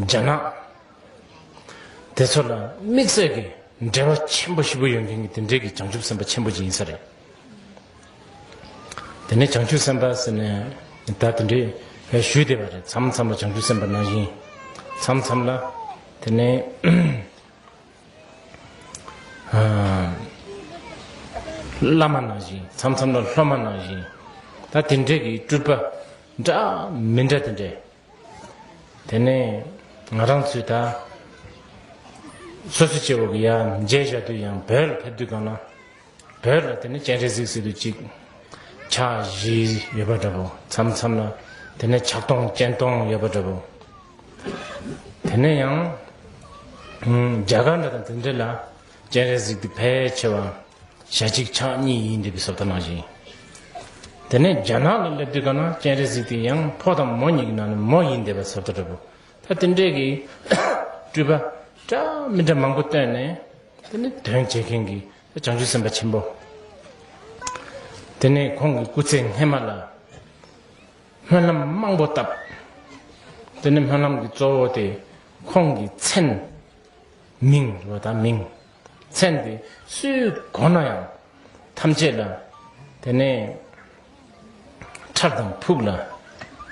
རྒྱ་ནག། དེ་ཚོ་ལ་དམིགས་བསལ་གྱི་འབྲེལ་བ་ཆེན་པོ་བཞི་པོ་ཡོད་མཁན་གྱི་དེ་འབྲེལ་གྱི་བྱང་ཆུབ་སེམས་དཔའ་ཆེན་པོ་གཅིག་ཡིན་ས་རེད། དེ་ནས་བྱང་ཆུབ་སེམས་དཔའ་ཟེར་ནས་ད་དེ་འདྲའི་བའི་ཞུས་བསྡད་པ་རེད་མཚམས་མཚམས་ལ་བྱང་ཆུབ་སེམས་དཔའ་ནང་བཞིན་མཚམས་མཚམས་ལ་དེ་ནས་བླ་མ་ནང་བཞིན་མཚམས་མཚམས་ལ་སློབ་མ་ནང་བཞིན་ད་དེ་འདྲའི་གི་སྤྲུལ་པ་འདྲ་མི་འདྲ་དེ་འདྲའི། དེ་ནས་ང་རང་ཚོས་ད་སོ་སོའི་སྐྱེ་བོ་གི་ཡ་མཇལ་བཞག་དུས་ཡང་བོད་ལ་ཕེབས་དུས་གང་ན་བོད་ལ་དེ་ནས་སྤྱན་རས་གཟིགས་སྲིད་དུ་གཅིག་ཕྱག་བཞི་ཡོད་པ་འདྲ་བོ་མཚམས་མཚམས་ལ་དེ་ནས་ཕྱག་སྟོང་སྤྱན་སྟོང་ཡོད་པ་འདྲ་བོ་དེ་ནས་ཡང་རྒྱ་གར་འདྲ་དང་དེ་འདྲ་ལ་སྤྱན་རས་གཟིགས་འདི་ཕལ་ཆེ་བ་ཞལ་གཅིག་ཕྱག་གཉིས་ཡིན་འདི་པའི་ཟབ་ལྟ་གནང་ཞིང། དེ་ནས་རྒྱ་ནག་ལ་སླེབས་དུས་དགའ་ན་སྤྱན་རས་གཟིགས་འདི་ཡང་ཕོ་དང་མོ་གཉིས་ཀྱི་ནང་ནས་མོ་ཡིན་འདི་པའི་ཟབ་ལྟ་གྲུབ་བོ། ད་དེ་འདྲའི་གི་སྤྲུལ་པ་འདྲ་མི་འདྲ་མང་པོ་བཏོན་ནས་དེ་ནི་དོན་བྱེད་མཁན་གྱི་བྱང་ཆུབ་སེམས་དཔའ་ཆེན་པོ། དེ་ནས་ཁོང་གི་སྐུ་ཚེ་སྔས་མ་ལ་སྨོན་ལམ་མང་པོ་བཏབ། དེ་ནས་སྨོན་ལམ་གྱི་གཙོ་བོ་དེ་ཁོང་གི་མཚན། མིང། ལོ་དང་མིང། མཚན་འདི་སུའི་མགོ་ན་ཡང། ཐམས་ཅད་ལ། དེ་ནས། ཁྲག་དང་ཕུག་ལ།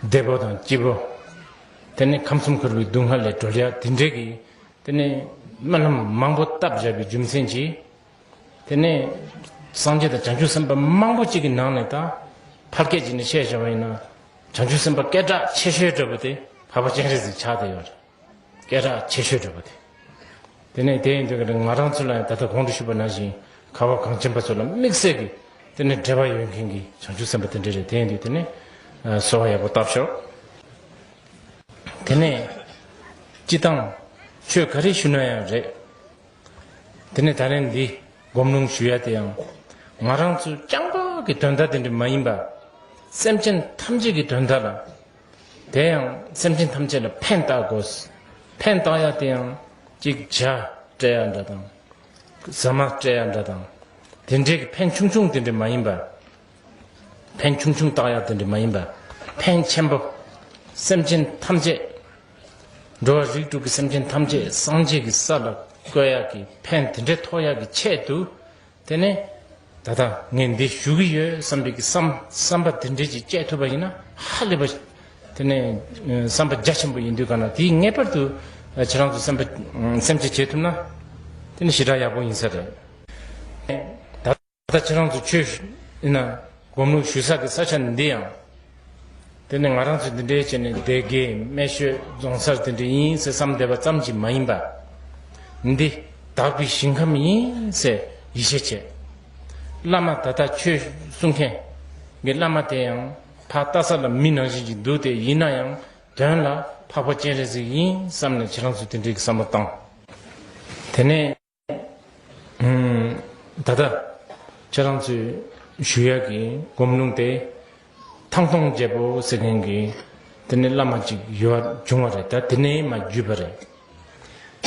བདེ་པོ་དང་སྐྱིད་པོ། དེ་ནས་ཁམས་གསུམ་ཁུར་བའི་སྡུག་བསྔལ་ལས་གྲོལ་ཡ་དེ་འདྲས་ཀྱི། དེ་ནས་སྨོན་ལམ་མང་པོ་བཏབ་བཞག་པའི་རྒྱུ་མཚན་གྱིས། དེ་ནས། སངས་རྒྱས་དང་བྱང་ཆུབ་སེམས་དཔའ་མང་པོ་གཅིག་གི་ནང་ནས་དང། ཕ་སྐད་ཅིག་ནས་བཤད་བཞག་པ་ཡིན་ན། བྱང་ཆུབ་སེམས་དཔའ་སྐད་གྲགས་ཆེ་ཤོས་འདྲ་པོ་དེ་ཕ་བ་སྤྱན་རས་གཟིགས་ཕྱག་དེ་ཡོད། སྐད་གྲགས་ཆེ་ཤོས་གྲུབ་པ་དེ། དེ་ནས་དེ་ཡིན་དུས་ཀྱི་ང་རང་ཚོ་ལ་ཡང་ད་ལྟ་གོང་དུ་ཞུས་པ་ནང་བཞིན་ཁ་བ་གངས་ཅན་པ་ཚོ་ལ་དམིགས་བསལ་གྱི་དེ་ནས་འབྲེལ་བ་ཡོད་མཁན་གྱི་བྱང་ཆུབ་སེམས་པ་དེ་འདྲ་རེད་དེ་ཡིན་དུས་དེ་ནས་གསོལ་བ་ཡག་པོ་བཏབ་ཤོག་དེ་ནས་སྤྱི་བཏང་ཆོས་ག་རེ་ཞུ་ན་ཡང་རེད་དེ་ནས་ད་རེན་འདི་སྒོམ་ལུང་ཞུ་ཡ་དེ་ཡང་ང་རང་ཚོ་རྐྱང་པ་གི་དོན་དག་དེ་འདྲ་མ་ཡིན་པ་སེམས་ཅན་ཐམས་ཅད་ཀྱི་དོན་དག་ལ་དེ་ཡང་སེམས་ཅན་ཐམས་ཅད་ལ་ཕན་བཏགས་དགོས། ཕན་བཏགས་ཡ་དེ་ཡང་ཅིག་ཅར་སྤྲད་ཡ་འདྲ་དང། ཟ་མ་སྤྲད་ཡ་འདྲ་དང། དེ་འདྲའི་གི་ཕན་ཆུང་ཆུང་དེ་འདྲའི་མ་ཡིན་པ། ཕན་ཆུང་ཆུང་བཏགས་ཡ་དེ་འདྲའི་མ་ཡིན་པ། ཕན་ཆེན་པོ། སེམས་ཅན་ཐམས་ཅད། འགྲོ་བ་རིགས་དྲུག་གི་སེམས་ཅན་ཐམས་ཅད་སངས་རྒྱས་ཀྱི་ས་ལ་བཀོད་ཡ་གི་ཕན་དེ་འདྲའི་ཐོགས་ཡ་གི་ཆེད་དུ། དེ་ནས་ད་ལྟ་ངས་འདི་ཞུ་གི་ཡོད་བསམ་པའི་བསམ་པ་དེ་འདྲས་ཀྱིས་སྤྱད་ཐུབ་པ་ཡིན་ན་ཧ་ལས་པ། དེ་ནས་བསམ་པ་རྒྱ་ཆེན་པོ་ཡིན་དུས་ག་ན་དེས་ངེས་པར་དུ་ཁྱེད་རང་ཚོ་སེམས་ཁྲལ་བྱེད་ཐུབ་ན། དེ་ནི་ཞེ་དྲག་ཡག་པོ་ཡིན་ས་རེད། ད་ལྟ་ཁྱེད་རང་ཚོ་ཆོས་ཞུ་ན་སྒོམ་ལུགས་ཞུ་ས་ཀྱི་ས་ཆ་འདི་ཡང། དེ་ནི་ང་རང་ཚོས་འདི་འདྲའི་ཆེད་ནས་སྡེ་དགེ་སྨད་ཤོད་རྫོང་སར་དེ་འདྲ་ཡིན་ཟེར་བསམ་བསྡད་པ་ཙམ་གྱིས་མ་ཡིན་པ། འདི་དྭགས་པའི་ཞིང་ཁམས་ཡིན་ཟེར་ཡིད་ཆེས་བྱས། བླ་མ་ད་ལྟ་ཆོས་གསུང་མཁན་གྱི་བླ་མ་དེ་ཡང་ཕ་རྟ་ས་ལ་མི་ནང་བཞིན་གྱིས་འདུག་སྟེ་ཡིན་ན་ཡང་དོན་ལ་འཕགས་པ་སྤྱན་རས་གཟིགས་ཡིན་བསམ་ནས་ཁྱེད་རང་ཚོས་དེ་འདྲའི་བསམ་བློ་བཏང། དེ་ནས། ད་ལྟ། ཁྱེད་རང་ཚོས་ཞུ་ཡག་གི་སྒོམ་ལུང་དེ། ཐང་སྟོང་རྒྱལ་པོ་ཟེར་མཁན་གྱི་དེ་ནས་བླ་མ་ཅིག་ཡོད་བར་བྱུང་བ་རེད་ད་དེ་ནས་མ་བརྒྱུད་པ་རེད།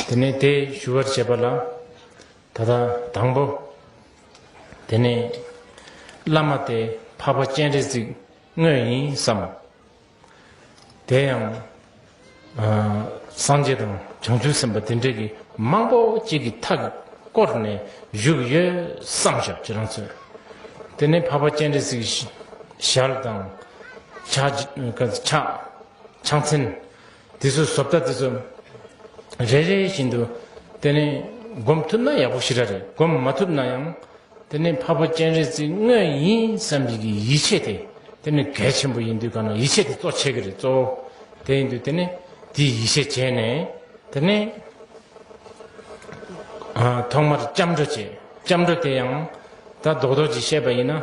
དེ་ནས་དེ་ཞུ་བར་བྱས་པ་ལ། ད་ལྟ་དང་པོ། དེ་ནས་བླ་མ་དེ་འཕགས་པ་སྤྱན་རས་གཟིགས་དངོས་ཡིན་བསམ། དེ་ཡང། སངས་རྒྱས་དང་བྱང་ཆུབ་སེམས་དཔའ་དེ་འདྲ་གྱི་མང་པོ་གཅིག་གི་མཐའ་བསྐོར་ནས་བཞུགས་ཡོད་བསམ་ཞབས་ཀྱི་རང་ཚོད། དེ་ནས་འཕགས་པ་སྤྱན་རས་གཟིགས་ཞལ་དང། ཕྱག་ཆེན། དེ་ཚོའི་བཟོ་ལྟ་དེ་ཚོ་རེ་རེ་བཞིན་དུ་དེ་ནི་སྒོམ་ཐུབ་ན་ཡག་པོ་ཞིག་ར་རེད་སྒོམ་མ་ཐུབ་ན་ཡང་དེ་ནི་འཕགས་པ་སྤྱན་རས་གཟིགས་དངོས་ཡིན་བསམ་བཞིན་གྱི་ཡིད་ཆེས་དེ་དེ་ནི་གལ་ཆེན་པོ་ཡིན་དུས་གང་ན་ཡིད་ཆེས་དེ་གཙོ་ཆེ་གི་རེད་གཙོ་བོ་དེ་ཡིན་དུས་དེ་ནི་དེའི་ཡིད་ཆེས་བྱས་ནས་དེ་ནི་ཐོག་མར་སྐྱབས་འགྲོ་བྱེད་སྐྱབས་འགྲོ་དེ་ཡང་ད་རྡོག་རྡོག་ཅིག་བཤད་པ་ཡིན་ན།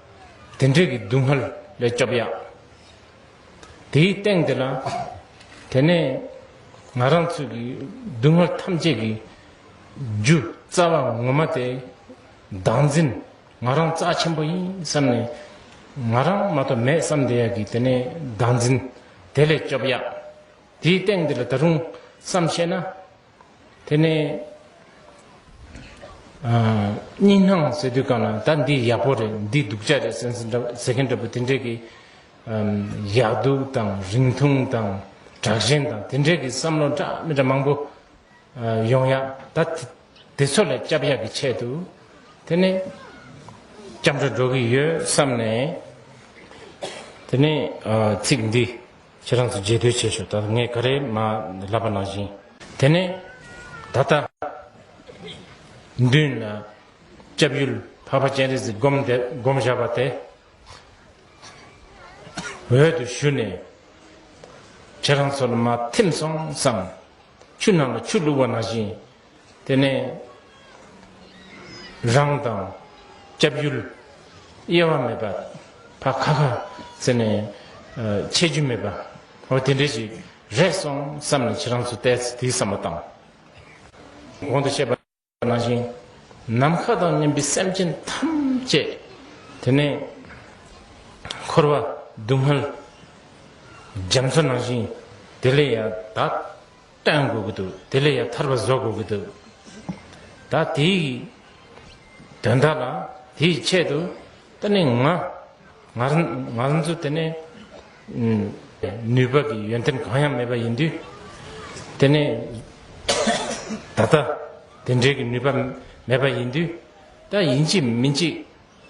དེ་འདྲེ་གི་སྡུག་བསྔལ་ལས་སྐྱོབ་ཡག། དེའི་སྟེང་དེ་ལ། དེ་ནས་ང་རང་ཚོས་ཀྱི་སྡུག་བསྔལ་ཐམས་ཅད་ཀྱི། རྒྱུ་རྩ་བ་ངོ་མ་དེ། བདག་འཛིན་ང་རང་རྩ་ཆེན་པོ་ཡིན་བསམ་ནས། ང་རང་མ་གཏོགས་མེད་བསམ་དེ་ཡག་གི་དེ་ནས་བདག་འཛིན་དེ་ལས་སྐྱོབ་ཡག། དེའི་སྟེང་དེ་ལ་ད་རུང་བསམ་ཤེས་ན། དེ་ནས་གཉིས་སྣང་ཟེར་དུས་གང་ལ་ད་འདི་ཡག་པོ་རེད་འདི་སྡུག་ཅག་རེད་ཟེར་མཁན་འདྲ་པོ་དེ་འདྲས་ཀྱི་ཡག་སྡུག་དང་རིང་ཐུང་དང་དྲག་ཞན་དང་དེ་འདྲས་ཀྱི་བསམ་བློ་འདྲ་མི་འདྲ་མང་པོ་ཡོང་ཡ་ད་དེ་ཚོ་ལ་སྐྱབས་ཡག་གི་ཆེད་དུ་དེ་ནས་སྐྱབས་འགྲོ་འགྲོ་གི་ཡོད་བསམ་ནས་དེ་ནས་ཚིག་འདི། ཁྱེད་རང་ཚོ་རྗེས་ཟློས་བྱེད་ཤོག་ད་ལྟ་ངས་ག་རེ་མ་ལབ་པ་ནང་བཞིན། དེ་ནས་ད་ལྟ། མདུན་ན་སྐྱབས་ཡུལ་འཕགས་པ་སྤྱན་རས་གཟིགས་བསྒོམ་དེ་བསྒོམ་བཞག་པ་དེ་འོད་དུ་ཞུ་ནས། ཁྱེད་རང་ཚོ་ལ་མ་ཐིམ་སོང་བསམ། ཆུ་ནང་ལ་ཆུ་བླུགས་པ་ནང་བཞིན། དེ་ནས་རང་དང་སྐྱབས་ཡུལ་དབྱེ་བ་མེད་པ་བ་ཁ་ཁ་ཟེར་ནས་འཆད་རྒྱུ་མེད་པ་འོ་དེ་འདྲས་ཞིག་རེད་སོང་བསམ་ནས་ཁྱེད་རང་ཚོ་ལྟས་ཚེ་དེའི་བསམ་པ་དང། གོང་དུ་བཤད་པ་ནང་བཞིན་ནམ་མཁའ་དང་མཉམ་པའི་སེམས་ཅན་ཐམས་ཅད་དེ་ནས་འཁོར་བ་སྡུག་བསྔལ་རྒྱ་མཚོ་ནང་བཞིན་དེ་ལས་ཡང་དག་བསྟན་དགོས་ཀྱི་འདུག་དེ་ལས་ཡང་ཐར་པ་བཟོ་དགོས་ཀྱི་འདུག་ད་དེའི་དོན་དག་ལ་དེའི་ཆེད་དུ་ད་ནི་ང་ང་ཚོ་དེ་ནི་ནུས་པ་གི་ཡོན་ཏན་གང་ཡང་མེད་པ་ཡིན་དུས་དེ་ནི་ད་ལྟ་དེ་འདྲའི་གི་ནུས་པ་མེད་པ་ཡིན་དུས་ད་ཡིན་གཅིག་མིན་གཅིག་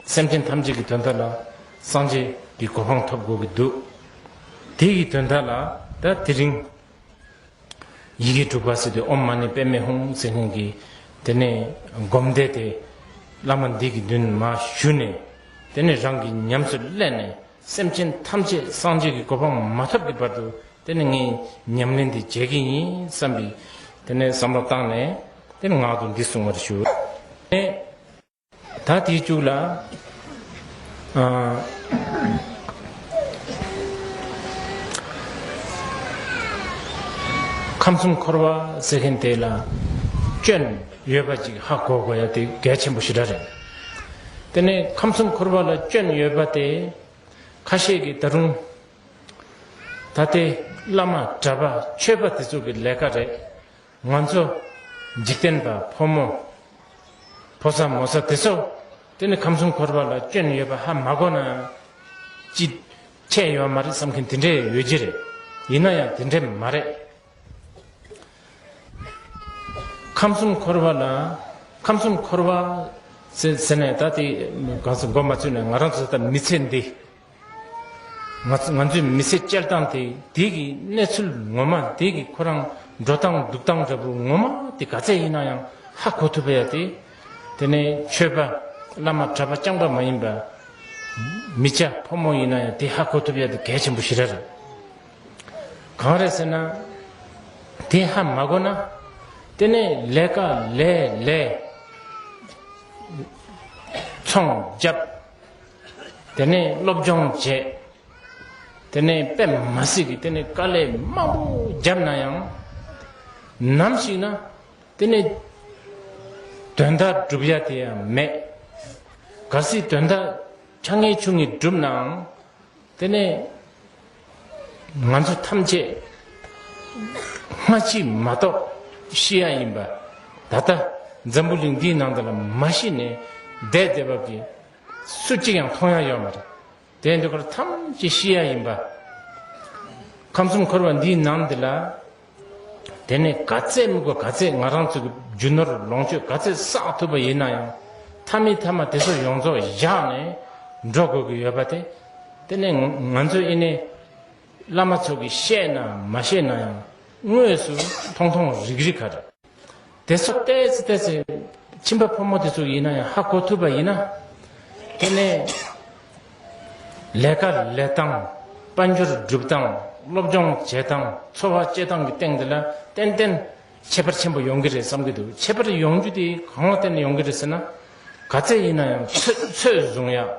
སེམས་ཅན་ཐམས་ཅད་ཀྱི་དོན་དག་ལ་སངས་རྒྱས་ཀྱི་གོ་འཕང་ཐོབ་དགོས་ཀྱི་འདུག་དེའི་དོན་དག་ལ་ད་དེ་རིང་ཡི་གེ་དྲུག་པ་སི་ཏུ་ཨོམ་མ་ནི་པདྨའི་ཧཱུྃ་ཟེར་ལྷུན་གྱིས། དེ་ནས་བསྒོམ་བཟླས་ཏེ། བླ་མ་འདི་གི་མདུན་མ་ཞུ་ནས། དེ་ནས་རང་གིས་ཉམས་སུ་བསླད་ནས་སེམས་ཅན་ཐམས་ཅད་སངས་རྒྱས་ཀྱི་གོ་འཕང་མ་ཐོབ་ཀྱི་བར་དུ་དེ་ནི་ངས་ཉམས་ལེན་འདི་བྱེད་ཀྱི་ཡིན་བསམ་པས། དེ་ནས་བསམ་བློ་བཏང་ནས། དེ་ནས་ངག་ཏུ་འདི་གསུང་བར་ཞུ། ད་དེ་བཅུག་ལ། ཁམས་གསུམ་འཁོར་བ་ཟེར་མཁན་དེ་ལ་སྐྱོན་ཡོད་པ་ཅིག་ཧ་གོ་དགོས་ཡ་དེ་གལ་ཆེན་པོ་ཞིག་ར་རེད། དེ་ནས་ཁམས་གསུམ་འཁོར་བ་ལ་སྐྱོན་ཡོད་པ་དེ་ཁ་ཤས་ཀྱིས་ད་རུང་ད་དེ་བླ་མ་གྲྭ་པ་ཆོས་པ་དེ་ཚོ་གི་ལས་ཀ་རེད། ང་ཚོ་འཇིག་རྟེན་པ་ཕོ་མོ། ཕོ་ས་མོ་ས་དེ་ཚོ་དེ་ནི་ཁམས་གསུམ་འཁོར་བ་ལ་སྐྱོན་ཡོད་པ་ཧ་མ་གོ་ན། ཅི། ཁྱད་ཡོད་མ་རེད་བསམ་མཁན་དེ་འདྲས་ཡོད་ཀྱི་རེད། ཡིན་ན་ཡང་དེ་འདྲས་མ་རེད། ཁམས་གསུམ་འཁོར་བ་ལ། ཁམས་གསུམ་འཁོར་བ། ཟེར་ཟེར་ནས་ད་དེ་གང་ཟེ་མགོ་མ་ཚོས་ནས་ང་རང་ཚོ་ད་མི་ཚེ་འདི། ང་ཚོའི་མི་ཚེ་སྤྱིར་བཏང་དེ་དུས་ཀྱི་གནས་ཚུལ་ངོ་མ་དེ་གི་ཁོ་རང་འགྲོ་སྟངས་འདུག་སྟངས་འདྲ་པོ་ངོ་མ་དེ་ག་ཚད་ཡིན་ན་ཡང་ཧ་གོ་ཐུབ་པ་ཡ་དེ། དེ་ནས་ཆོས་པ། བླ་མ་གྲྭ་པ་རྐྱང་པ་མ་ཡིན་པ། མི་བྱ་ཕོ་མོ་ཡིན་ན་ཡང་དེ་ཧ་གོ་ཐུབ་ཡ་དེ་གལ་ཆེན་པོ་ཞིག་རེད། གང་རེད་ཟེར་ན། དེ་ཧ་མ་གོ་ན། དེ་ནས་ལས་ཀ་ལས་ལས། ཚོང་བརྒྱབ། དེ་ནས་སློབ་སྦྱོང་བྱས། དེ་ནས་པད་མ་སྲིད་ཀྱི་དེ་ནས་དཀའ་ལས་མང་པོ་བརྒྱབ་ན་ཡང། ནམ་ཞིག་ན་དེ་ནས་དོན་དག་སྒྲུབ་ཡ་དེ་ཡང་མེད། ག་སྲིད་དོན་དག་ཆ་ངེ་ཆུང་ངེ་སྒྲུབ་ནའང་དེ་ནས་ང་ཚོ་ཐམས་ཅད་སྔ་ཕྱི་མ་གཏོགས་ཤི་ཡ་ཡིན་པ་ད་ལྟ་འཛམ་བུ་གླིང་འདིའི་ནང་དུ་ལ་མ་ཤི་ནས་བསྡད་བསྡད་བབ་ཀྱི། སུ་གཅིག་ཡང་མཐོང་ཡ་ཡོད་མ་རེད། དེ་འདི་ཁོར་ཐམས་ཅད་ཤེས་ཡ་ཡིན་པ། ཁམས་གསུམ་འཁོར་བ་འདིའི་ནང་འདི་ལ། དེ་ནས་ག་ཚད་དམིགས་པ་ག་ཚད་ང་རང་ཚོ་གི་རྒྱུ་ནོར་ལོངས་སྤྱོད་ག་ཚད་བསགས་ཐུབ་པ་ཡིན་ན་ཡང། མཐའ་མི་མཐའ་མ་དེ་ཚོ་ཡོངས་རྫོགས་བཞག་ནས་འགྲོ་དགོས་ཀྱི་ཡོད་པ་དེ། དེ་ནས་ང་ཚོ་ཨི་ནས། བླ་མ་ཚོ་གི་བཤད་ན་མ་བཤད་ན་ཡང་དངོས་སུ་མཐོང་མཐོང་རིག་རིག་ག་རེད། དེ་སོགས་བལྟས་ཚེ་བལྟས་ཚེ། ཁྱིམ་པ་ཕོ་མོ་དེ་ཚོ་ཡིན་ན་ཡང་ཧ་གོ་ཐུབ་པ་ཡིན་ན། དེ་ནས། ལས་ཀ་ལས་སྟངས། དཔལ་འབྱོར་སྒྲུབ་སྟངས། སློབ་སྦྱོང་བྱེད་སྟངས། འཚོ་བ་སྐྱེལ་སྟངས་ཀྱི་སྟེང་དེ་ལ་ཏན་ཏན། ཁྱད་པར་ཆེན་པོ་ཡོང་གི་རེད་བསམ་གྱི་འདུག་ཁྱད་པར་ཡོང་རྒྱུ་དེ་གང་ལ་བརྟེན་ནས་ཡོང་གི་རེད་ཟེར་ན། ག་ཚད་ཡིན་ན་ཡང་ཚོད་བཟུང་ཡག།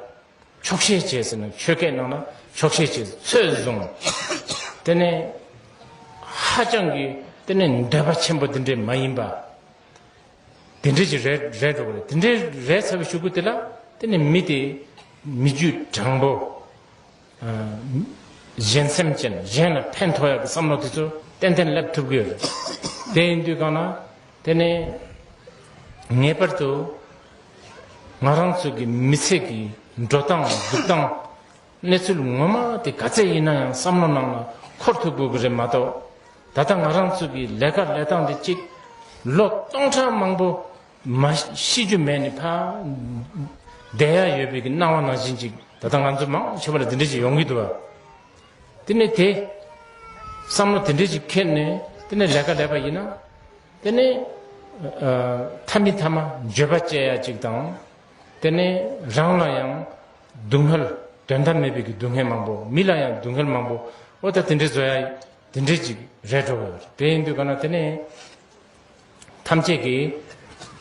ཆོག་ཤེས་བྱས་ཟེར་ནས་ཆོས་སྐད་གནང་ན་ཆོག་ཤེས་བྱས་ཚོད་བཟུང། དེ་ནི་ཧ་ཅང་གི་དེ་ནི་འདོད་པ་ཆེན་པོ་འདི་འདྲའི་མ་ཡིན་པ། དེ་འདྲའི་ཅིག་རེད་རེད་འགྲོ་གི་རེད་དེ་འདྲའི་རེད་ཚ་བའི་ཤུགས་ཀུན་དེ་ལ་དེ་ནི་མི་དེ་མི་རྒྱུད་དྲང་པོ། གཞན་སེམས་ཅན་གཞན་ལ་ཕན་ཐོགས་ཡག་གི་བསམ་བློ་དེ་ཚོ་ཏན་ཏན་སླེབས་ཐུབ་གི་རེད། དེ་ཡིན་དུས་གང་ན་དེ་ནི་ངེས་པར་དུ་ང་རང་ཚོ་གི་མི་ཚེ་གི་འགྲོ་སྟངས་འདུག་སྟངས་གནས་ཚུལ་ངོ་མ་དེ་ག་ཚད་ཡིན་ན་ཡང་བསམ་བློ་ནང་ལ་འཁོར་ཐུབ་དགོས་ཀྱི་རེད་མ་གཏོགས་ད་ལྟ་ང་རང་ཚོ་གི་ལས་ཀ་ལས་སྟངས་འདི་གཅིག་ལོ་སྟོང་ཕྲག་མང་པོ་མ་ཤི་རྒྱུ་མེད་ནི་ཕ་བསྡད་ཡ་ཡོད་པའི་གི་སྣང་བ་ནང་བཞིན་ཅིག་ད་ལྟ་ང་ཚོ་མང་ཆེ་བ་ལ་དེ་འདྲས་ཅིག་ཡོང་གི་འདུག་བ། དེ་ནས་དེ་བསམ་བློ་དེ་འདྲས་ཅིག་ཁེལ་ནས་དེ་ནས་ལས་ཀ་ལས་པ་ཡིན་ན། དེ་ནས་ཐ་མི་ཐ་མ་བརྗོད་པ་བཅད་ཡ་གཅིག་དང། དེ་ནས་རང་ལ་ཡང་སྡུག་བསྔལ་དོན་དམ་མེད་པའི་སྡུག་བསྔལ་མང་པོ་མི་ལ་ཡང་སྡུག་བསྔལ་མང་པོ་ཨོ་ད་དེ་འདྲའི་བཟོ་ཡ་དེ་འདྲས་ཅིག་རེད་འགྲོ་གི་དེ་ཡིན་དུས་ག་ན་དེ་ནས་ཐམས་ཅད་ཀྱིས་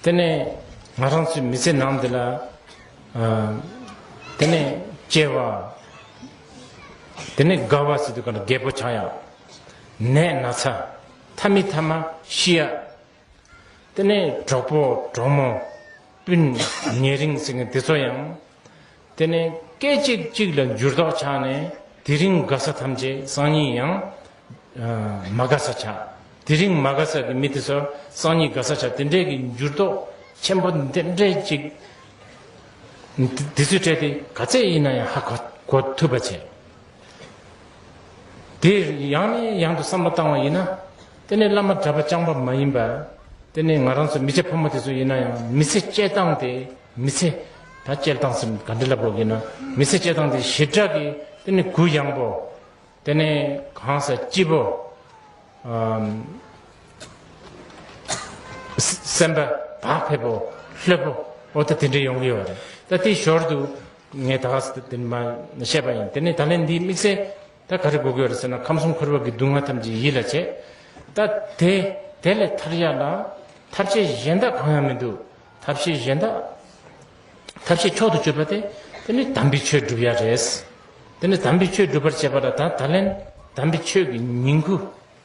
དེ་ནས་ང་རང་ཚོའི་མི་ཚེ་ནང་འདི་ལ་དེ་ནས་སྐྱེ་བ་དེ་ནས་རྒ་བ་སྲིད་དུས་ག་ན་རྒད་པོ་ཆགས་ཡ་ནད་ན་ཚ། ཐ་མི་ཐ་མ་ཤི་ཡ། དེ་ནས་གྲོགས་པོ་གྲོགས་མོ་སྤུན་ཉེ་རིང་ཟེར་མཁན་དེ་ཚོ་ཡང། དེ་ནས་སྐད་ཅིག་གཅིག་ལ་འགྱུར་ལྡོག་ཆགས་ནས་དེ་རིང་དགའ་ས་ཐམས་ཅད་སང་ཉིན་ཡང། མ་དགའ་ས་ཆགས། དེ་རིང་མ་དགའ་ས་ཀྱི་མི་དེ་ཚོ་སང་ཉིན་དགའ་ས་ཆགས་དེ་འདྲའི་གི་འགྱུར་ལྡོག་ཆེན་པོ་འདི་འདྲའི་ཅིག། དེ་ཚོའི་གྲས་དེ་ག་ཚད་ཡིན་ན་ཡང་ཧ་གོ་ཐུབ་པ་བྱས། དེ་ཡང་ནས་ཡང་དུ་བསམ་བློ་བཏང་བ་ཡིན་ན། དེ་ནས་བླ་མ་གྲྭ་པ་བསྐྱངས་པ་མ་ཡིན་པ། དེ་ནས་ང་རང་ཚོ་མི་ཚེ་ཕོ་མོ་དེ་ཚོ་ཡིན་ན་ཡང་མི་ཚེ་སྤྱད་སྟངས་དེ་མི་ཚེ་ད་སྤྱད་སྟངས་སམ་ག་འདྲི་ལབ་རོགས་གྱིས་ན་མི་ཚེ་སྤྱད་སྟངས་དེ་ཞེ་དྲག་གི་དེ་ནས་གུ་ཡངས་པོ། དེ་ནས་གང་ཟག་སྐྱིད་པོ། སེམས་པ་བག་ཕེབས་པོ་ལྷོད་པོ་འོ་ད་དེ་འདྲས་ཡོང་གི་ཡོད་རེད་ད་དེའི་ཞོར་དུ་ངས་ད་གཟོད་དེ་འདི་མ་བཤད་པ་ཡིན་དེ་ནས་ད་ལན་འདིའི་དམིགས་བསལ་ད་ག་རེ་གོ་དགོས་རེད་ཟེར་ན་ཁམས་གསུམ་འཁོར་བ་གི་སྡུག་བསྔལ་ཐམས་ཅད་ཡིད་ལ་བྱེད་ད་དེ་དེ་ལས་ཐར་ཡ་ལ་ཐབས་ཤེས་གཞན་དག་གང་ཡང་མི་འདུག་ཐབས་ཤེས་གཞན་དག་ཐབས་ཤེས་མཆོག་ཏུ་སྤྱོད་པ་དེ་དེ་ནི་དམ་པའི་ཆོས་བསྒྲུབ་ཡ་རེད་དེ་ནི་དམ་པའི་ཆོས་སྒྲུབ་པར་བྱེད་པ་ལ་ད་ད་ལན་དམ་པའི་ཆོས་ཀྱི་ཉིང་ཁུ།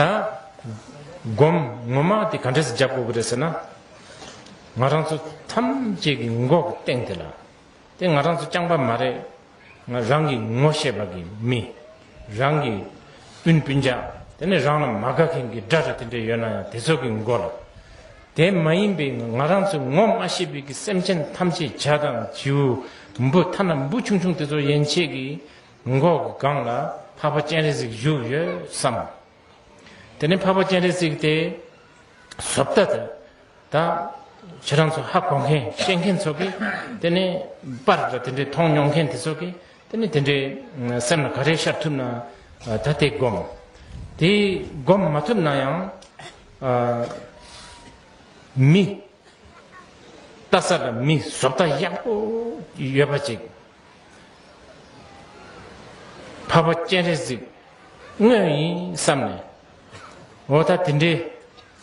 ད། སྒོམ་ངོ་མ་དེ་ག་འདྲས་སུ་རྒྱབ་དགོས་ཀྱི་རེད་ཟེར་ན། ང་རང་ཚོ་ཐམས་ཅད་ཀྱི་མགོ་གི་སྟེང་དེ་ལ། དེ་ང་རང་ཚོ་རྐྱང་པ་མ་རེད། ང་རང་གི་ངོ་ཤེས་པ་གི་མི། རང་གི་སྤུན་སྤུན་ཆ། དེ་ནས་རང་ལ་མ་དགའ་མཁན་གྱི་དགྲ་དགྲ་དེ་འདྲས་ཡོད་ན་ཡང་དེ་ཚོ་གི་མགོ་ལ། དེ་མ་ཡིན་པའི་ང་རང་ཚོའི་ངོ་མ་ཤེས་པའི་གི་སེམས་ཅན་ཐམས་ཅད་བྱ་དང་བྱིའུ་འབུ་ཐ་ན་འབུ་ཆུང་ཆུང་དེ་ཚོ་ཡན་ཆད་ཀྱི་མགོ་འཁོར་གྱི་སྒང་ལ་འཕགས་པ་སྤྱན་རས་གཟིགས་བཞུགས་ཡོད་བསམ། དེ་ནས་འཕགས་པ་སྤྱན་རས་གཟིགས་དེ་ཟོབ་ལྟ་དང། ད་ཁྱེད་རང་ཚོ་ཧ་གོ་མཁན་ཤེས་མཁན་ཚོ་གིས་དེ་ནས་པར་འདྲ་དེ་འདྲའི་མཐོང་མྱོང་མཁན་དེ་ཚོ་གིས་དེ་ནས་དེ་འདྲའི་སེམས་ལ་ག་རེ་ཤར་ཐུབ་ན་ད་དེ་སྒོམ། དེ་སྒོམ་མ་ཐུབ་ན་ཡང། མི། རྟ་ཟ་བའི་མི་བཟོ་ལྟ་ཡག་པོ་ཡོད་པ་ཅིག་ཕ་བོ་སྤྱན་རས་གཟིགས་དངོས་ཡིན་བསམ་ནས་འོ་ད་དེ་འདྲའི་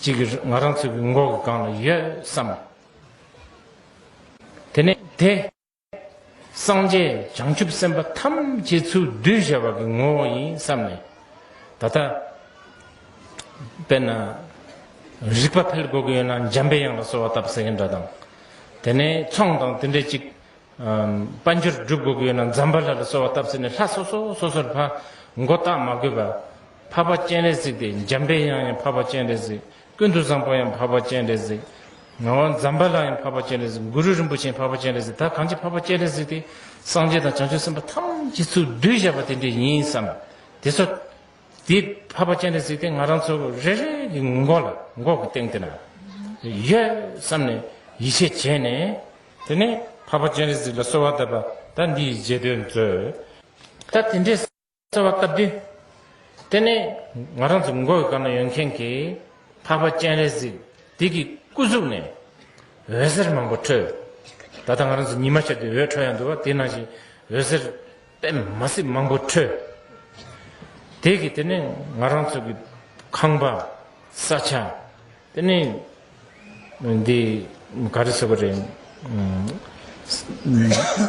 ཅིག་ང་རང་ཚོའི་མགོ་གི་སྒང་ལ་ཡོད་བསམ། དེ་ནས་དེ། སངས་རྒྱས་བྱང་ཆུབ་སེམས་དཔའ་ཐམས་ཅད་ཚུར་གདུལ་བྱ་བ་གི་ངོ་བོ་ཡིན་བསམས་ནས། ད་ལྟ། དཔེར་ན། རིག་པ་འཕེལ་དགོས་ཀྱི་ཡོད་ན་འཇམ་པའི་དབྱངས་ལ་གསོལ་བ་བཏབ་ཟེར་གྱི་འདྲ་དང། དེ་ནས་ཚོང་དང་དེ་འདྲའི་ཅིག། དཔལ་འབྱོར་སྒྲུབ་དགོས་ཀྱི་ཡོད་ན་འཛམ་བྷ་ལྷ་ལ་གསོལ་བ་བཏབ་ཟེར་ནས་ལྷ་སོ་སོ་སོ་སོར་འཕགས། མགོ་བཏགས་མ་དགོས་པར། འཕགས་པ་སྤྱན་རས་གཟིགས་ཏེ་འཇམ་པའི་དབྱངས་ཡང་འཕགས་པ་སྤྱན་རས་གཟིགས་ཀུན་ཏུ་བཟང་པོ་ཡང་འཕགས་པ་སྤྱན་རས་གཟིགས། ངག་དབང་འཛམ་བྷ་ལ་ཡང་འཕགས་པ་སྤྱན་རས་གཟིགས། གུ་རུ་རིན་པོ་ཆེ་ཡང་འཕགས་པ་སྤྱན་རས་གཟིགས་ད་གང་ཅི་འཕགས་པ་སྤྱན་རས་གཟིགས་དེ། སངས་རྒྱས་དང་བྱང་ཆུབ་སེམས་དཔའ་ཐམས་ཅད་ཚུར་བསྡུས་བཞག་པ་དེ་འདྲས་ཡིན་བསམ། དེ་ཚོ། དེ་འཕགས་པ་སྤྱན་རས་གཟིགས་དེ་ང་རང་ཚོ་རེ་རེ་གི་མགོ་ལ་མགོ་གི་སྟེང་དེ་ན། ཡོད་བསམ་ནས་ཡིད་ཆེས་བྱས་ནས། དེ་ནས་འཕགས་པ་སྤྱན་རས་གཟིགས་ལ་གསོལ་བ་གདབ་པ་ད་འདི་ཡི་རྗེས་ཟློས་མཛོད། ད་དེ་འདྲས། རྩ་བ་བཀའ་བདུན། དེ་ནས་ང་རང་ཚོ་མགོ་ཡི་སྐར་ན་ཡོད་མཁན་གྱི་འཕགས་པ་སྤྱན་རས་གཟིགས་དེ་གི་སྐུ་གཟུགས་ནས་འོད་ཟེར་མང་པོ་འཕྲོས། ད་ལྟ་ང་རང་ཚོ་ཉི་མ་ཤར་ཏེ་འོད་འཕྲོ་ཡང་འདུག་བ་དེ་ནང་བཞིན་འོད་ཟེར་པད་མ་སྲིད་མང་པོ་འཕྲོས། དེ་གི་དེ་ནས་ང་རང་ཚོ་གི་ཁང་པ་ས་ཆ་དེ་ནས་འདི་ག་རེ་ཟེར་བ་རེད།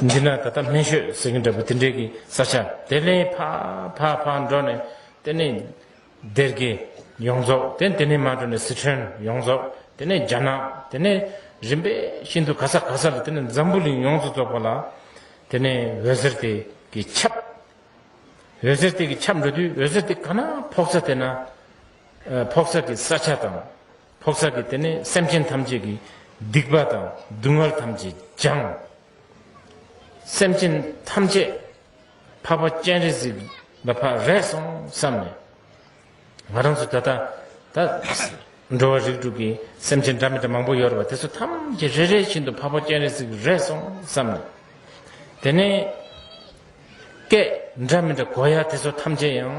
འདི་ན་ད་ལྟ་སྨན་ཤོད་ཟེར་གྱིན་འདྲ་བོ་དེ་འདྲའི་གི་ས་ཆ་དེ་ལས་ཕ་ཕ་ཕ་འགྲོ་ནས་དེ་ནས་སྡེར་གྱི་ཡོངས་རྫོགས་དེ་དེ་ནས་མ་འགྲོ་ནས་སི་ཁྲོན་ཡོངས་རྫོགས་དེ་ནས་རྒྱ་ནག་དེ་ནས་རིམ་པས་ཤིན་ཏུ་ག་ས་ག་ས་ལ་དེ་ནས་འཛམ་བུ་གླིང་ཡོངས་སུ་རྫོགས་པ་ལ་དེ་ནས་འོད་ཟེར་དེ་གི་ཁྱབ། འོད་ཟེར་དེ་གི་ཁྱབ་འགྲོ་དུས་འོད་ཟེར་དེ་ག་ན་ཕོག་ས་དེ་ན། ཕོག་ཚ་གི་ས་ཆ་དང། ཕོག་ཚ་གི་དེ་ནས་སེམས་ཅན་ཐམས་ཅད་ཀྱི་སྡིག་པ་དང་སྡུག་བསྔལ་ཐམས་ཅད་སྦྱངས། སེམས་ཅན་ཐམས་ཅད་འཕགས་པ་སྤྱན་རས་གཟིགས་ལ་འཕགས་རེ་སོང་བསམ་ནས། ང་རང་ཚོ་ད་ལྟ་ད་འགྲོ་བ་རིགས་དྲུག་གི་སེམས་ཅན་འདྲ་མི་འདྲ་མང་པོ་ཡོད་པ་དེ་ཚོ་ཐམས་ཅད་རེ་རེ་བཞིན་དུ་འཕགས་པ་སྤྱན་རས་གཟིགས་རེ་སོང་བསམ་ནས། དེ་ནས་སྐད་འདྲ་མི་འདྲ་གོ་ཡ་དེ་ཚོ་ཐམས་ཅད་ཡང།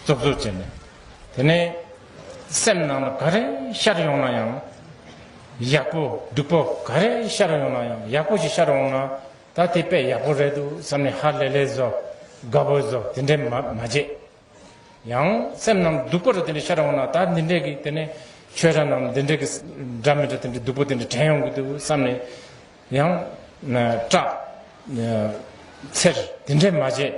རྩུབ་རྩུབ་བྱས་ནས་དེ་ནས་སེམས་ནང་ལ་ག་རེ་ཤར་ཡོང་ན་ཡང་ཡག་པོ་སྡུག་པོ་ག་རེ་ཤར་ཡོང་ན་ཡང་ཡག་པོ་ཞིག་ཤར་འོང་ན་ད་དེ་དཔེ་ཡག་པོ་རེད་འདུག་བསམ་ནས་ཧ་ལས་ལས་བཟོ་དགའ་བོ་བཟོ་དེ་འདྲས་མ་བྱས། ཡང་སེམས་ནང་སྡུག་པོ་རེ་དེ་འདྲས་ཤར་འོང་ན་ད་འདི་འདྲས་ཀྱི་དེ་ནས་ཆོས་ར་ནང་འདི་འདྲས་ཀྱི་འདྲ་མི་འདྲ་དེ་འདྲས་སྡུག་པོ་དེ་འདྲས་དྲན་ཡོང་གི་འདུག་བསམ་ནས་ཡང། སྐྲ། ཚེར། དེ་འདྲས་མ་བྱེད།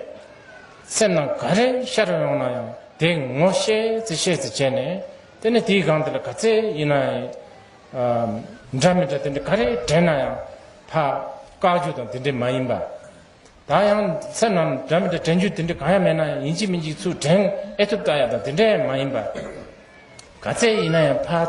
སེམས་ནང་ག་རེ་ཤར་ཡོང་ན་ཡང་དེ་ངོ་ཤེས་ཚེ་ཤེས་ཚེ་བྱས་ནས་དེ་ནས་དེའི་སྒང་དེ་ལ་ག་ཚད་ཡིན་ན་ཡང། འདྲ་མི་འདྲ་དེ་འདྲས་ག་རེ་དྲན་ན་ཡང་ཕ། བཀག་རྒྱུ་དང་དེ་འདྲས་མ་ཡིན་པ། ད་ཡང་སེམས་ནང་འདྲ་མི་འདྲ་དྲན་རྒྱུ་དེ་འདྲས་གང་ཡང་མེད་ན་ཡང་ཡིན་གཅིག་མིན་གཅིག་ཚུལ་དྲན་ཨེ་ཐུབ་ལྟ་ཡག་དང་དེ་འདྲས་མ་ཡིན་པ། ག་ཚད་ཡིན་ན་ཡང་ཕ།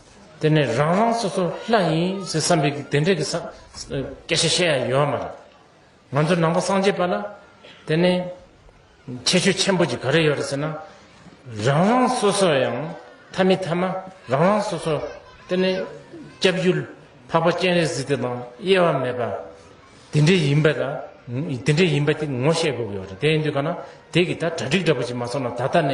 དེ་ནས་རང་རང་སོ་སོར་ལྷ་ཡིན་ཟེར་བསམ་པའི་དེ་འདྲ་གི་སྐད་ཆ་བཤད་ཡ་ཡོད་མ་རེད། ང་ཚོ་ནང་པ་སངས་རྒྱས་པ་ལ་དེ་ནས་ཁྱད་ཆོས་ཆེན་པོ་གཅིག་ག་རེ་ཡོད་རེད་ཟེར་ན། རང་རང་སོ་སོ་ཡང་ཐ་མི་ཐ་མ་རང་རང་སོ་སོ་དེ་ནས་སྐྱབས་རྒྱུ་འཕགས་པ་སྤྱན་རས་གཟིགས་དེ་དང་དབྱེ་བ་མེད་པ་དེ་འདྲ་ཡིན་པ་དང་དེ་འདྲ་ཡིན་པ་དེ་ངོ་ཤེས་དགོས་ཀྱི་ཡོད་རེད་དེ་ཡིན་དུས་ག་ན་དེ་གི་ད་གྲ་སྒྲིག་འདྲ་པོ་ཅིག་མ་སོང་ན་ད་ལྟ་ནས་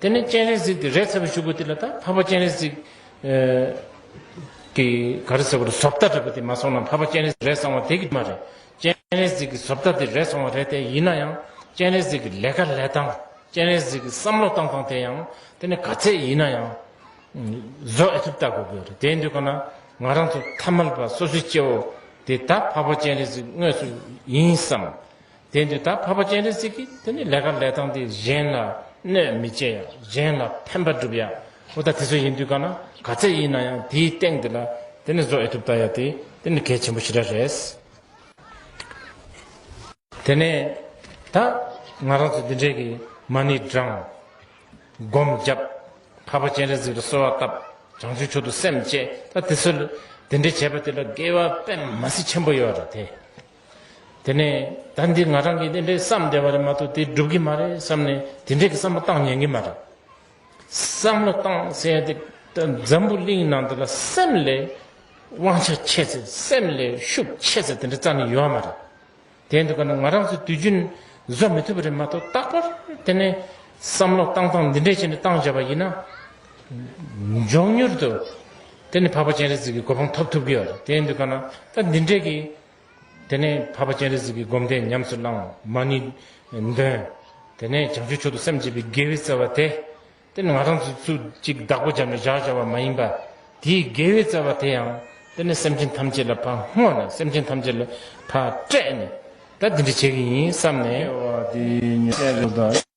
དེ་ནས་སྤྱན་རས་གཟིགས་ཀྱི་རས་ཚ་བའི་ཤུབ་བུ་དེ་ལ་དང་འཕགས་པ་སྤྱན་རས་གཟིགས། ཀྱི་གར་ཟེར་བ་ལ་ཟོབ་རྟ་རེད་པ་དེ་མ་སོང་ན་འཕགས་པ་སྤྱན་རས་རས་བཟང་བ་དེ་གི་མ་རེད། སྤྱན་རས་གཟིགས་ཀྱི་ཟོབ་རྟ་དེ་རས་བཟང་བ་རེད་དེ་ཡིན་ན་ཡང་སྤྱན་རས་གཟིགས་ཀྱི་ལས་ཀ་ལས་སྟངས་སྤྱན་རས་གཟིགས་ཀྱི་བསམ་བློ་བཏང་སྟངས་དེ་ཡང་དེ་ནི་ག་ཚད་ཡིན་ན་ཡང། བཟོ་ཨེ་ཐུབ་བལྟ་དགོས་གི་རེད་དེའི་འདུལ་ཁ་ན་ང་རང་ཚོ་ཐ་མལ་པ་སོ་སོའི་སྐྱེ་བོ་དེ་ད་འཕགས་པ་སྤྱན་རས་གཟིགས་དངོས་སུ་ཡིན་བསམ། དེ་འདི་ལྟར་འཕགས་པ་སྤྱན་རས་གཟིགས་ཀྱིས་དེ་ནི་ལས་ཀ་ལས་སྟངས་འདིས་གཞན་ལ་གནོད་མི་བྱེད་ཡ་གཞན་ལ་ཕན་པ་བསྒྲུབ་ཡ་འོ་ད་དེ་ཚོ་ཡིན་དུས་ག་ན་ག་ཚད་ཡིན་ན་ཡང་དེའི་སྟེང་འདི་ལ་དེ་ནི་བཟོ་ཨེ་ཐུབ་བལྟ་ཡ་དེ་དེ་ནི་གལ་ཆེན་པོ་ཞིག་ར་རེད། དེ་ནས་ད་ང་རང་ཚོ་འདི་འདྲས་ཀྱི་མ་ཎི་བགྲང། སྒོམ་བརྒྱབ། འཕགས་པ་སྤྱན་རས་གཟིགས་ལ་གསོལ་བ་བཏབ། བྱང་ཆུབ་མཆོག་ཏུ་སེམས་བསྐྱེད་ད་དེ་ཚོ་ལ་དེ་འདྲས་བྱས་པ་དེ་ལ་དགེ་བ་པད་མ་སྲིད་ཆེན་པོ་ཡོད་རེད་དེ། དེ་ནས་ད་འདི་ང་རང་གིས་དེ་འདྲའི་བསམ་བསྡད་པ་རེད་མ་གཏོགས་དེ་འགྲུབ་ཀྱི་མ་རེད་བསམ་ནས་དེ་འདྲའི་བསམ་བློ་བཏང་ཉན་གྱི་མ་རེད། བསམ་བློ་བཏང་ཟེར་ཡང་དེ་འཛམ་བུ་གླིང་ནང་འདི་ལ་སེམས་ལས་དབང་ཆ་ཆེ་ཚེ་སེམས་ལས་ཤུགས་ཆེ་ཚེ་དེ་འདྲ་རྩ་ནས་ཡོད་བ་མ་རེད། དེ་འདུག་ག་ན་ང་རང་ཚོས་དུས་རྒྱུན་བཟོ་མི་ཐུབ་པ་རེད་མ་གཏོགས་རྟག་པར་དེ་ནས་བསམ་བློ་བཏང་སྟངས་འདི་འདྲའི་ཆེད་ནས་བཏང་བྱས་པ་ཡིན་ན། མགྱོགས་མྱུར་དུ་དེ་ནི་འཕགས་པ་སྤྱན་རས་གཟིགས་ཀྱི་གོ་འཕང་ཐོབ་ཐུབ་ཀྱི་ཡོད། དེ་ཡིན་དུས་ཀ་ན་ད་འདི་འདྲས་ཀྱིས། དེ་ནས་འཕགས་པ་སྤྱན་རས་གཟིགས་ཀྱི་སྒོམ་བཟླས་ཉམས་སུ་བླང་བ་མ་ནི། འདོན། དེ་ནས་བྱང་ཆུབ་མཆོག་ཏུ་སེམས་བསྐྱེད་པའི་དགེ་བའི་རྩ་བ་དེ། དེ་ནི་ང་རང་ཚོའི་ཚུལ་གཅིག་བདག་པོ་བྱམས་པའི་བཞག་བྱ་བ་མ་ཡིན་པ། དེའི་དགེ་བའི་རྩ་བ་དེ་ཡང། དེ་ནི་སེམས་ཅན་ཐམས་ཅད་ལ་ཕ་བསྔོ་ནས་སེམས་ཅན་ཐམས་ཅད་ལ་ཕ་སྤྲད་ནས། ད་འདི་འདྲས་བྱེད་ཀྱི་ཡིན་བསམས་ནས། སྐྱེ་བ་འདི་ཉིད་གསལ་བྱེད་དོ།